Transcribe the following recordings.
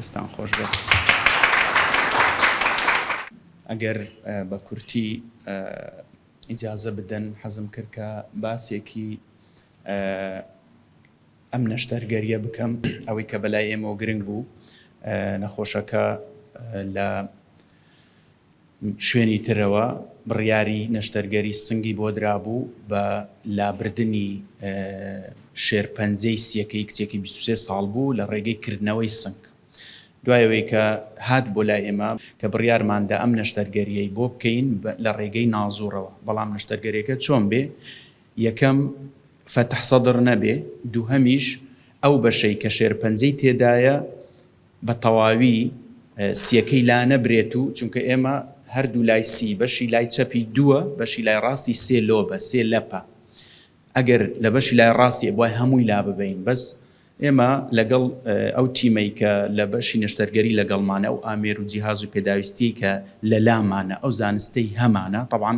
دەستان خۆش بێت. ئەگەر بە کورتی ئیجازە بدەن حەزم کرد کە باسێکی ئەم نەشتەرگەریە بکەم ئەوەی کە بەلای ئێمەوە گرنگ بوو نەخۆشەکە لە شوێنی ترەوە بڕیاری نەشتەرگەری سنگی بۆ درابوو بە لابردنی شێرپەنجەی سیەکەی کچێکی بیست و سێ ساڵ بوو لە ڕێگەی کردنەوەی سنگ دوای ئەوەی کە هات بۆ لای ئێمە کە بڕیارمان دا ئەم نەشتەرگەریەی بۆ بکەین لە ڕێگەی نازوڕەوە بەڵام نەشتەرگەریەکە چۆن بێ یەکەم فەتح سەدر نەبێ دووهەمیش ئەو بەشەی کە شێرپەنجەی تێدایە بە تەواوی سیەکەی لا نەبرێت و چونکە ئێمە هەر دوو لای سی بەشی لای چەپی دووە بەشی لای ڕاستی سێ لۆبە سێ لەپە ئەگەر لە بەشی لای ڕاستی ئەبوای هەمووی لا ببەین بەس ئێمە لەگەڵ ئەو تیمەی کە لە بەشی نەشتەرگەری لەگەڵمانە ئەو ئامێر و جیهاز و پێداویستیەی کە لە لامانە ئەو زانستەی هەمانە تەبعەن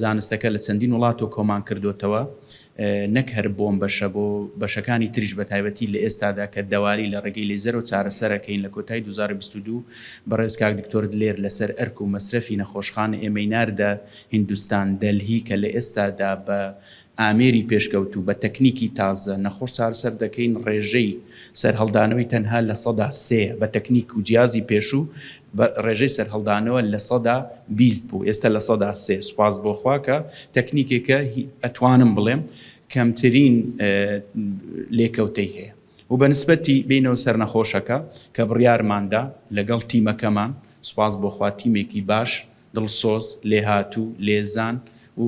زانستەکە لە چەندین وڵاتەوە کۆمان کردۆتەوە نەک هەر بۆم بەشە بۆ بەشەکانی تریش بەتایبەتی لەئێستادا کە دەواری لەڕێگەی لەیزەرەوە چارەسەرەکەین لەکۆتای دوو هەزار و بیست و دوو بەڕێز کاک دکتۆر دلێر لەسەر ئەرک و مەسرەفی نەخۆشخانە ئێمەی ناردە هیندوستان دەلهی کە لەئێستادا بە ئامێری پێشکەوتوو بە تەکنیکی تازە نەخۆش چارەسەر دەکەین ڕێژەی سەرهەڵدانەوەی تەنها لە سەدا سێیە بە تەکنیک و جیازی پێشوو بە ڕێژەی سەرهەڵدانەوە لە سەدا بیست بوو ئێستە لە سەدا سێ سوپاس بۆ خوا کە تەکنیکێکە هی ئەتوانم بڵێم کەمترین لێکەوتەی هەیە و بە نسبەتی بینەوە سەرنەخۆشەکە کە بڕیارماندا لەگەڵ تیمەکەمان سوپاس بۆ خوا تیمێکی باش دڵسۆز لێهاتوو لێزان و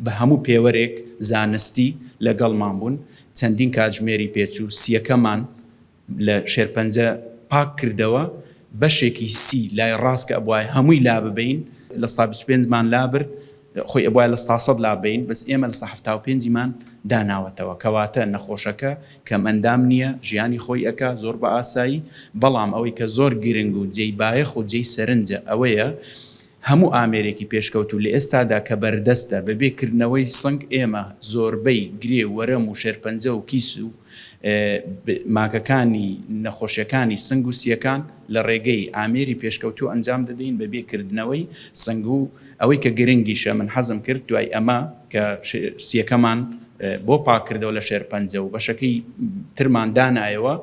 بە هەموو پێوەرێک زانستی لەگەڵمان بوون چەندین کاتژمێری پێچوو سیەکەمان لە شێرپەنجە پاک کردەوە بەشێکی سی لای ڕاست کە ئەبوایە هەمووی لاببەین لە ستا بیست و پێنج مان لابرد خۆی ئەبوایە لە ستا سەد لاببەین بەس ئێمە لە ستا حەفتا و پێنج مان داناوەتەوە کەواتە نەخۆشەکە کەم ئەندام نیە ژیانی خۆی ئەکا زۆر بە ئاسایی بەڵام ئەوەی کە زۆر گرنگ و جێی بایەخ و جێی سەرنجە ئەوەیە هەموو ئامێرێکی پێشکەوتوو لە ئێستادا کە بەردەستە، بە بێ کردنەوەی سنگ ئێمە زۆربەی گرێ و وەرەم و شێرپەنجە و کیس و ماکەکانی نەخۆشیەکانی سنگ و سیەکان لە ڕێگەی ئامێری پێشکەوتوو ئەنجام دەدەین بە بێ کردنەوەی سنگ و ئەوەی کە گرنگیشە من حەزم کرد دوای ئەمە کە سیەکەمان بۆ پاک کردەوە لە شێرپەنجە و بەشەکەی ترمان دانایەوە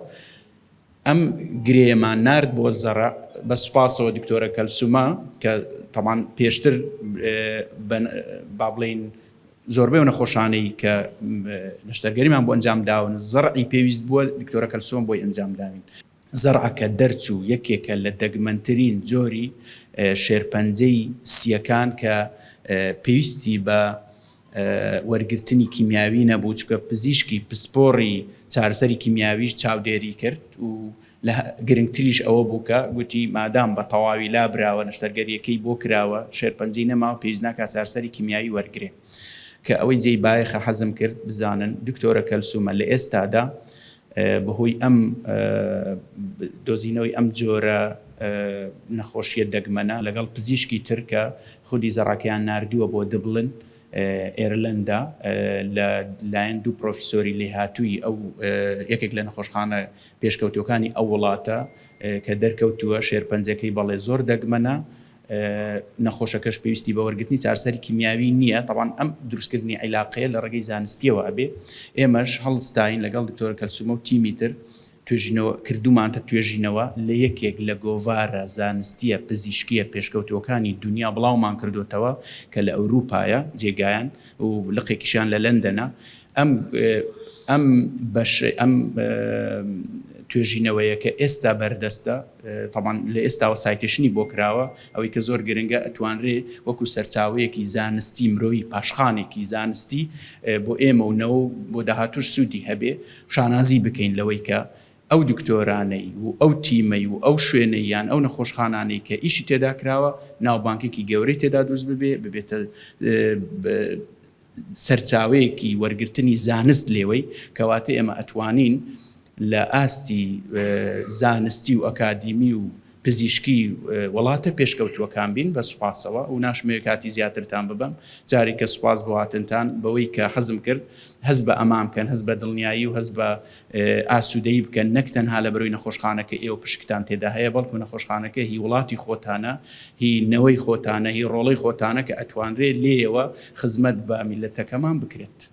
ئەم گرێیەمان نارد بۆ زەڕع بە سوپاسەوە دکتۆرە کەلسومە کە تەبان پێشتر بابلین زۆربەی نەخۆشانەی کە نەشتەرگەریمان بۆ ئەنجام داون زەڕعی پێویست بووە دکتۆرە کەلسوم بۆی ئەنجام داوین زەڕعەکە دەرچوو یەکێکە لە دەگمەنترین جۆری شێرپەنجەی سییەکان کە پێویستی بە وەرگرتنی کیمیاوی نەبوو، چونکە پزیشکی پسپۆڕی چارەسەری کیمیاویش چاودێری کرد و لە گرنگتریش ئەوە بوو کە گوتی مادام بە تەواوی لابراوە، نەشتەرگەرییەکەی بۆ کراوە، شێرپەنجەی نەماوە، پێویست ناکات چارەسەری کیمیاوی وەرگرێ. کە ئەوەی جێی بایەخە حەزم کرد بزانن دکتۆرە کەلسوومە لە ئێستادا بە هۆی ئەم دۆزینەوەی ئەم جۆرە نەخۆشییە دەگمەنە لەگەڵ پزیشکی تر کە خودی زەڕاکەیان ناردووە بۆ دبلن، ئێرلەندا، لە لایەن دوو پرۆفیسۆری لێهاتووی ئەو یەکێک لە نەخۆشخانە پێشکەوتووەکانی ئەو وڵاتە کە دەرکەوتووە شێرپەنجەکەی بەڵێ زۆر دەگمەنە، نەخۆشەکەش پێویستی بە وەرگرتنی چارەسەری کیمیاوی نییە، تەبعەن ئەم دروستکردنی عیلاقەیە لە ڕێگەی زانستییەوە ئەبێ، ئێمەش هەڵستاین لەگەڵ دکتۆرە کەلسوومە و تیمی تر، توێژینەوە کردوومان کە توێژینەوە لە یەکێک لە گۆڤارە زانستییە پزیشکییە پێشکەوتووەکانی دونیا بڵاومان کردۆتەوە کە لە ئەوروپایە جێگایان و لقێکیشیان لە لەندەنە ئەم ئەم بەش ئەم توێژینەوەیە کە ئێستا بەردەستە تەبان لە ئێستاوە سایتێشنی بۆ کراوە ئەوەی کە زۆر گرنگە ئەتوانرێ وەکو سەرچاوەیەکی زانستی مرۆیی پاشخانێکی زانستی بۆ ئێمە و نەوە بۆ داهاتوش سوودی هەبێ شانازی بکەین لەوەی کە ئەو دکتۆرانەی و ئەو تیمەی و ئەو شوێنەی یان ئەو نەخۆشخانانەی کە ئیشی تێدا کراوە ناوبانگێکی گەورەی تێدا دروست ببێ ببێتە سەرچاوەیەکی وەرگرتنی زانست لێوەی کەواتە ئێمە ئەتوانین لە ئاستی زانستی و ئەکادیمی و پزیشکی وڵاتە پێشکەوتووەکان بین بە سوپاسەوە و ناشمەوێ کاتی زیاترتان ببەم جاریکە سوپاس بۆ هاتنتان بەوەی کە حەزم کرد هەست بە ئەمان بکەن هەست بە دڵنیایی و هەست بە ئاسوودەیی بکەن نەک تەنها لە بەرۆی نەخۆشخانە کە ئێوە پشکتان تێدا هەیە بەڵکو نەخۆشخانەکە هی وڵاتی خۆتانە هی نەوەی خۆتانە هی ڕۆڵەی خۆتانە کە ئەتوانرێ لێیەوە خزمەت بە میللەتەکەمان بکرێت.